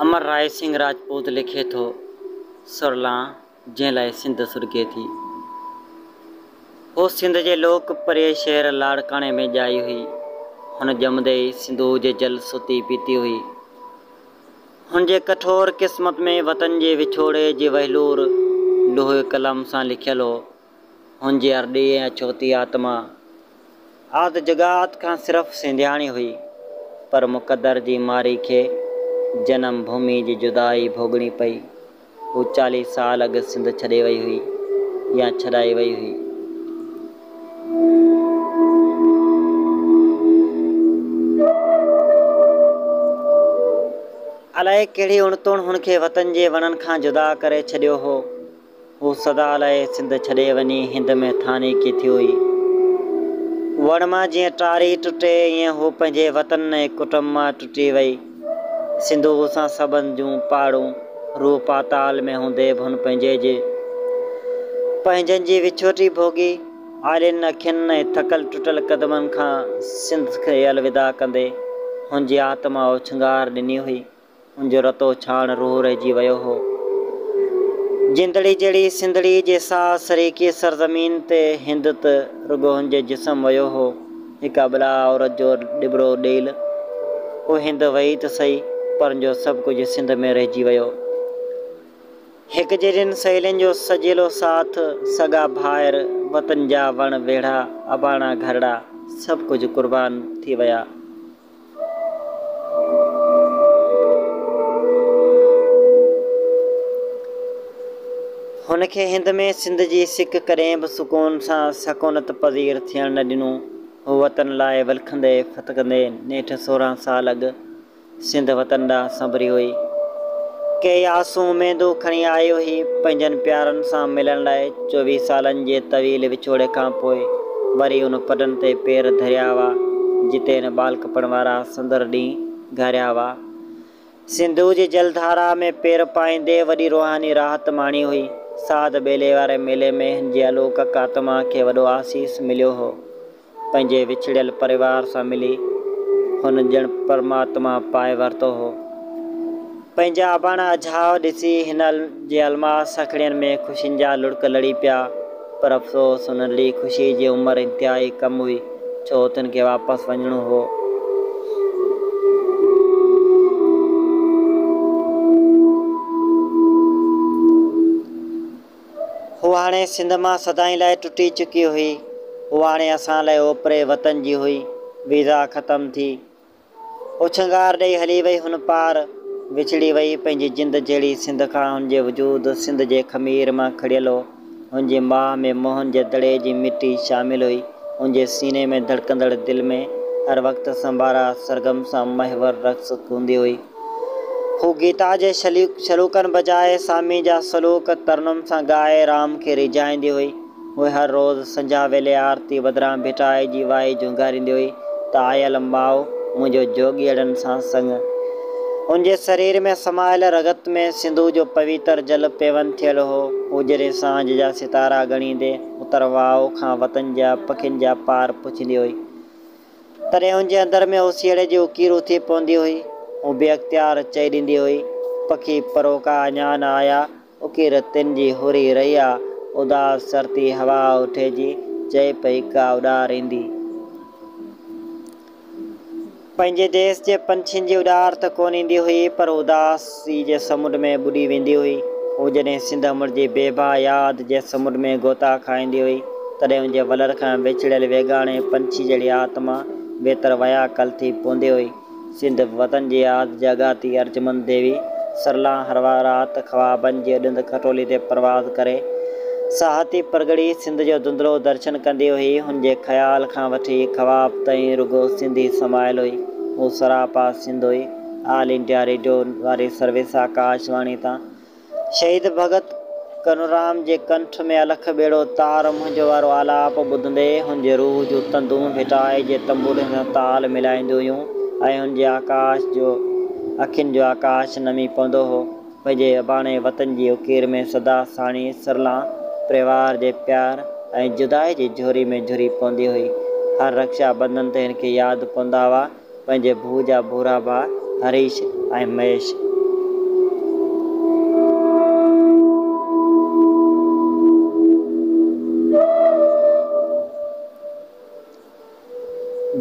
امر راء سنگهه راجپوت لکي ٿو، سرلان جنهن لاء سنڌ سرگهي ٿي. هوء سنڌ جي لوڪ پريء شهر لاڙڪاڻي ۾ ڄائي هئي. هن ڄمندي ئي سنڌوء جي جل ستي پيتي هئي. هن جي ڪٺور قسمت ۾ وطن جي وڇوڙي جي وهلور لوهي قلم سان لکيل هو. هن جي ارڏي ۽ اڇوتي آتما آد جڳات کان صرف سنڌياڻي هئي، پر مقدر جي ماري کي جنم ڀومي جي جدائي ڀوڳڻي پئي. هو چاليهه سال اڳ سنڌ ڇڏي وئي هئي يا ڇڏائي وئي هئي. الائي ڪهڙي اڻتوڻ هن کي وطن جي وڻن کان جدا ڪري ڇڏيو هو. هو سدا لاء سنڌ ڇڏي وڃي هند ۾ ٿاني ڪي ٿيو هئي. وڻ مان جيئن ٽاري ٽٽي، ايئن هو پنهنجي وطن ۽ ڪٽنب مان ٽٽي وئي. سنڌوء سان سٻنڌ جون پاڙون روح پاتال ۾ هوندي به هن پنهنجي جي پنهنجن جي وڇوٽي ڀوڳي آلين اکين ۽ ٿڪل ٽٽل قدمن کان سنڌ کي الوداع ڪندي هن جي آتما اوڇنگار ڏني هئي. هن جو رتو ڇاڻ روح رهجي ويو هو. جندڙي جهڙي سنڌڙي جي ساهه سريڪي سرزمين تي هند ته رڳو هن جي جسم ويو هو. جيڪا بلا عورت جو ڏٻڙو ڏيل او هند وئي ته سهي پر جو سڀ ڪجهه سنڌ ۾ رهجي ويو. هڪ جهڙين سهيلين جو سجيلو ساٿ، سڳا ڀائر، وطن جا وڻ ويڙها، اباڻا گهرڙا سڀ ڪجهه قربان ٿي ويا. هن کي هند ۾ سنڌ جي سڪ ڪڏهن به سڪون سان سڪونت پذير ٿيڻ نه ڏنو. هو وطن لاء ولڪندي ڦٿڪندي نيٺ سورهن سال اڳ سنڌ وطن ڏانهن سنبري هئي. ڪيئي آسون اميدون کڻي آيو هي، پنهنجن پيارن سان ملڻ لاء. چوويهه سالن جي طويل وڇوڙي کان پوء وري ان پڊن تي پير ڌريا هئا، جتي هن ٻالڪپڻ وارا سندر ڏينهن گهاريا هئا. سنڌوء جي جلڌارا ۾ پير پائيندي وڏي روحاني راحت ماڻي هئي. ساڌ ٻيلي واري ميلي ۾ هن جي الوڪڪ آتما کي وڏو آسيس مليو هو. پنهنجي وڇڙيل پريوار سان ملي هن ڄڻ پرماتما پائي ورتو هو. پنهنجا اباڻا اجهاء ڏسي هن جي الماس سکڙين ۾ خوشين جا لڙڪ لڙي پيا، پر افسوس هن لڙي خوشي جي عمر انتهائي ڪم هئي، ڇو تن کي واپس وڃڻو هو. هوء هاڻي سنڌ مان سدائين لاء ٽٽي چڪي هئي. هوء هاڻي اسان لاء اوپري وطن جي هئي. ويزا ختم ٿي. اڇنگار ڏئي هلي وئي هن پار. وڇڙي وئي پنهنجي جند جهڙي سنڌ کان. هن جو وجود سنڌ جي خمير مان کڙيل هو. هن جي ماهه ۾ موهن جي دڙي جي مٽي شامل هئي. هن جي سيني ۾ ڌڙڪندڙ دل ۾ هر وقت سنبارا سرگم سان محور رقص ڪوندي هئي. هو گيتا جي سلوڪن بجاء سامي جا سلوڪ ترنم سان ڳائي رام کي ريجهائيندي هئي. هوء هر روز سنجهاء ويلي آرتي بدران ڀٽائي جي وائي جهونگاريندي هئي ته آيل ماء منهنجو جوڳيئڙن سان سڱ. هن جي سرير ۾ سمايل رڳت ۾ سنڌو جو پويتر جل پيون ٿيل هو. هو جڏهن سانجهه جا ستارا ڳڻيندي اتر واء کان وطن جا پکين جا پار پڇيندي هئي. تڏهن هن جي اندر ۾ اوسيئڙي جي اڪير اٿي پوندي هئي. هو بي اختيار چئي ڏيندي هئي، پکي پروڪا اڃا نه آيا، اڪير تن جي هوري رهي آ، اداس سرتي هوا اٺي جي چئي پئي ڪا اڏار ايندي. پنهنجي ديس جي پنڇين جي اڏار ته ڪونه ايندي هئي، پر اداس. سيء جي سمنڊ ۾ ٻڏي ويندي هئي. هو جڏهن سنڌ امڙ جي بيبا ياد جي سمنڊ ۾ غوطا کائيندي هئي، تڏهن ان جي ولر کان وڇڙيل ويڳاڻي پنڇي جهڙي آتما ويتر وياڪل ٿي پوندي هئي. سنڌ وطن جي ياد جاڳاتي ارجمند ديوي سرلاهه هروار رات خوابن جي ڏند کٽولي تي پرواز ڪري، ساهتي پرڳڙي سنڌ جو ڌنڌلو درشن ڪندي هئي. هن جي خيال کان وٺي خواب تائين رڳو سنڌ ئي سمايل هئي. هو سراپا سنڌ هئي. آل انڊيا ريڊيو واري سروس آڪاش واڻي تان شهيد ڀڳت ڪنورام جي ڪنٺ ۾ الک ٻيڙو تار منهنجو وارو آلاپ ٻڌندي هن جي روح جون تندون ڀٽائي جي تنبوري سان تال ملائينديون هيون ۽ هن جي آڪاش جو اکين جو آڪاش نمي پوندو هو پنهنجي اباڻي وطن جي اڪير ۾ سدا ساڻي سرلان پريوار جي پيار ۽ جدائي جي جهوري ۾ جهري پوندي هئي هر رڪشا بندن تي هن کي ياد پوندا هئا. پنهنجي ڀو جا ڀورا ڀاء هريش ۽ مهيش.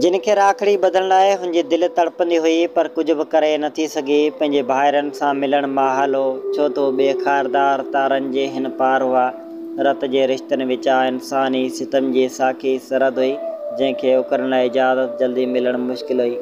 جن کي راکڙي ٻڌڻ لاء هن جي دل تڙپندي هئي پر ڪجهه به ڪري نه ٿي سگهي. پنهنجي ڀائرن سان ملڻ محال هو ڇو ته هو ٻي خاردار تارن جي هن پار هئا. رت جي رشتن وچان انساني ستم جي ساکي سرحد هئي، جنهن کي اڪرڻ لاء اجازت جلدي ملڻ مشڪل هئي.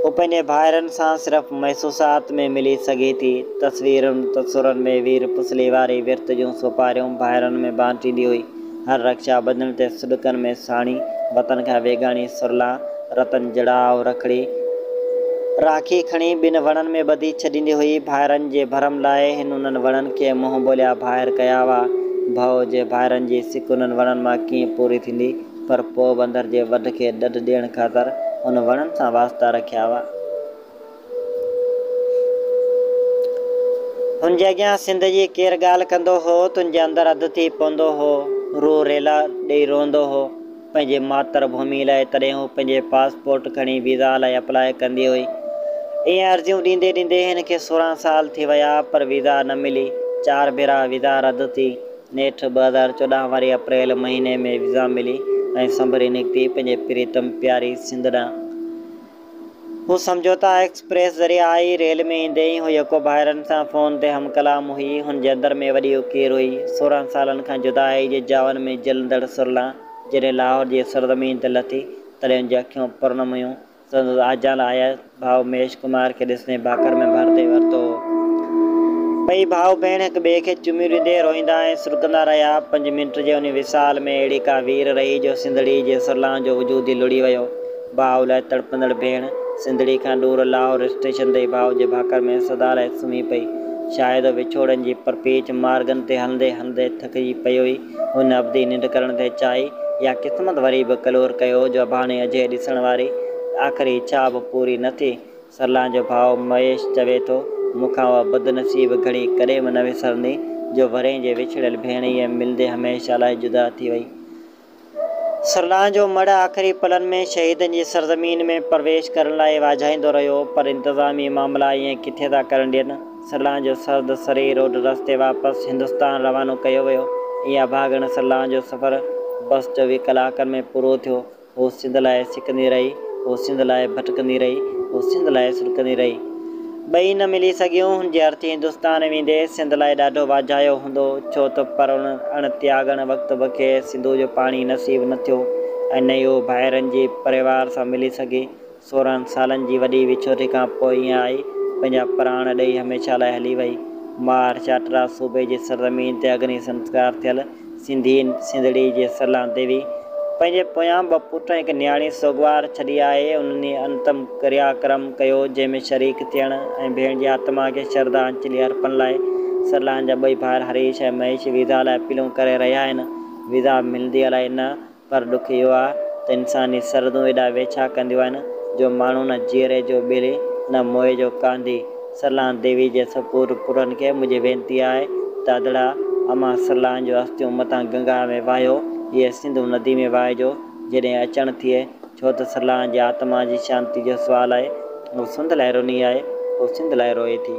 هو پنهنجي ڀائرن سان صرف محسوسات ۾ ملي سگهي ٿي. تصويرن تصورن ۾ وير پسلي واري ورت جون سوپاريون ڀائرن ۾ بانٽيندي هئي. هر رڪشا ٻڌڻ تي سڏڪن ۾ ساڻي، وطن کان ويڳاڻي سرلان، رتن جڙاء رکڙي راکي کڻي ٻن وڻن ۾ ٻڌي ڇڏيندي هئي. ڀائرن جي ڀرم لاء هن انهن وڻن کي منهن ٻوليا ڀائر ڪيا هئا. ڀؤ جي ڀائرن جي سڪ انهن وڻن مان ڪيئن پوري ٿيندي؟ پر پوء بندر جي وڍ کي ڏڍ ڏيڻ خاطر هن وڻن سان واسطا رکيا هئا. هن جي اڳيان سنڌ جي ڪير ڳالهه ڪندو هو، تن جي اندر اڌ ٿي پوندو هو. روح ريلا ڏيئي روئندو هو. پنهنجي ماتر ڀومي لاء تڏهن هو پنهنجي پاسپورٽ کڻي ويزا لاء اپلاء ڪندي هئي. ائين عرضيون ڏيندي ڏيندي هن کي سورهن سال ٿي ويا پر ويزا نه ملي. چار ڀيرا ويزا رد ٿي. نيٺ ٻه هزار چوڏهن واري اپريل مهيني ۾ ويزا ملي ۽ سنڀري نڪتي پنهنجي پريتم پياري سنڌ ڏانهن. هو سمجهوتا ايڪسپريس ذريعي آئي. ريل ۾ ايندي ئي هو يڪو ڀائرن سان فون تي هم ڪلام هئي. هن جي اندر ۾ وڏي اڪير هئي. سورهن سالن کان جدائيء جي جاون ۾ جهلندڙ سرلان جڏهن لاهور جي سرزمين تي لٿي، تڏهن هن جي اکيون پرن هيون. سندس آجيان آيل ڀاء مهيش ڪمار کي ڏسندي ڀاڪر ۾ ڀر ڏئي ورتو هو. ٻئي ڀاء ڀيڻ هڪ ٻئي کي چميون ڏيندي روئيندا ۽ سڏڪندا رهيا. پنج منٽ جي انهي وصال ۾ اهڙي ڪا وير رهي جو سنڌڙي جي سرلان جو وجود ئي لڙي ويو. ڀاء لاء تڙپندڙ ڀيڻ سنڌڙي کان ڏور لاهور اسٽيشن تي ڀاء جي ڀاڪر ۾ سدا لاء سمهي پئي. شايد وڇوڙن جي پرپيچ مارگن تي هلندي هلندي ٿڪجي پئي هئي. هن ابدي ننڊ ڪرڻ تي چاهي يا قسمت وري به ڪلور ڪيو جو ڀاڻي اجهي ڏسڻ واري آخري اڇا به پوري نه ٿي. سرلان جو ڀاء مهيش چوي ٿو، مون کان اها بدنصيب گهڙي ڪڏهن به نه وسرندي جو ورهين جي وڇڙيل ڀيڻ ايئن ملندي هميشه لاء جدا ٿي وئي. سرلاهن جو مڙهه آخري پلن ۾ شهيدن جي سرزمين ۾ پرويش ڪرڻ لاء واجهائيندو رهيو، پر انتظامي معاملا ائين ڪٿي ٿا ڪرڻ ڏين. سرلاهن جو سرد سري روڊ رستي واپس هندستان روانو ڪيو ويو. ائين اڀاڳڻ سرلاهن جو سفر بس چوويهه ڪلاڪن ۾ پورو ٿيو. هوء سنڌ لاء سڪندي رهي، هوء سنڌ لاء ڀٽڪندي رهي، هوء سنڌ لاء سڏڪندي رهي. ٻئي نه ملي سگهيون، هن جي ارٿي هندستان ويندي سنڌ لاء ڏاڍو واجهايو هوندو، ڇو ته پرڻ اڻ تياڳڻ وقت به کيس سنڌوء جو پاڻي نصيب نه ٿيو ۽ نه ئي هو ڀائرن جي پريوار سان ملي سگهي. سورهن سالن جي وڏي وڇوٽي کان پوء هيء آئي، پنهنجا پراڻ ڏيئي هميشه لاء هلي وئي. ماهر چاٽرا صوبي جي سرزمين تي اگني سنسڪار ٿيل سنڌي سنڌڙي جي سرلان ديوي پنهنجي پويان ٻه پٽ ۽ هڪ نياڻي سوڳوار ڇڏي آهي. انهن ئي انتم ڪريا ڪرم ڪيو، جنهن ۾ شريڪ ٿيڻ ۽ ڀيڻ جي آتما کي شردانجلي ارپڻ لاء سرلان جا ٻئي ڀائر هريش ۽ مهيش ويزا لاء اپيلون ڪري رهيا آهن. ويزا ملندي الائي نه پر ڏک اهو آهي ته انساني سرحدون ايڏا ويڇا ڪنديون آهن جو ماڻهو نه جيئري جو ٻلي نه موئي جو ڪانڌي. سرلاهن ديوي جي سپور پورن کي منهنجي وينتي آهي ته ادڙا امان سرلاهن جون اسٿيون متان گنگا ۾ وهايو اهي سنڌو ندي ۾ وهائجو جيڏهن اچڻ ٿئي ڇو ته سرلاهن جي آتما جي شانتي جو سوال آهي هو سنڌ لاء روني آهي هو سنڌ لاء روئي ٿي.